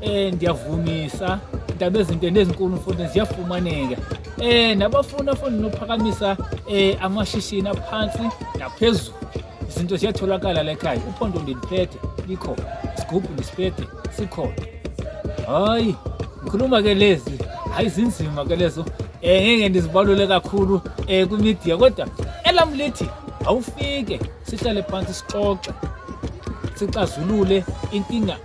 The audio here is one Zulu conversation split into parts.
Eh ndiyavumisa indaba ezinto nezinkulu mfundisi ziyafumaneka eh nabafuni afuni nophakamisa eh amashishini aphansi naphezulu izinto ziyatholakala la ekhaya uphondo ndiliphethe likho isigubhu ndisiphethe sikhona hayi ngikhuluma ke lezi hayi zinzima ke lezo eh ngeke ndizibalule kakhulu eh kumedia kodwa elam lithi awufike sihlale phansi sixoxe sixazulule inkinga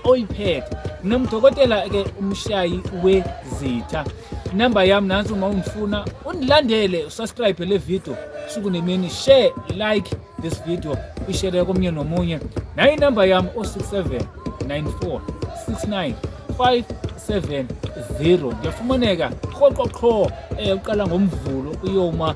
oyiphethe mina mdokotela ke umshayi wezitha inamba yami nansi uma ungifuna undilandele usubscribe le video suku nemini share like this video ishere komnye nomunye nayo inamba yami o67 94 69 570 ngiyafumaneka qhoqo qho um uqala ngomvulo uyoma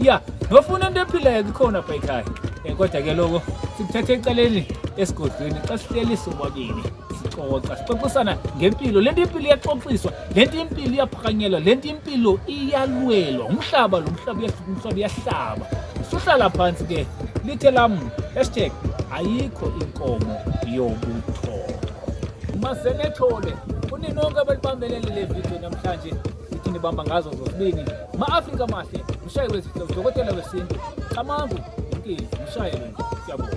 ya nofuna into ephilayo kukhona apha ekhaya um kodwa ke loko sikuthatha eceleni esigodlweni xa sihleli sobabini sixoxa sixoxisana ngempilo le nto impilo iyaxoxiswa le nto impilo iyaphakanyelwa le nto impilo iyalwelwa umhlaba lo mhlaba umhlaba uyahlaba suhlala phantsi ke lithe lam hashtag ayikho inkomo yobuthongo masenethole kuninonke abalibambelele le vidiyo namhlanje Iphinde ibamba ngazo zozibini. Ma-Afrika amahle, mshayi wezitho, udokotela wesintu, Xamangu, Mkili, mshayi wena. Siyabonga.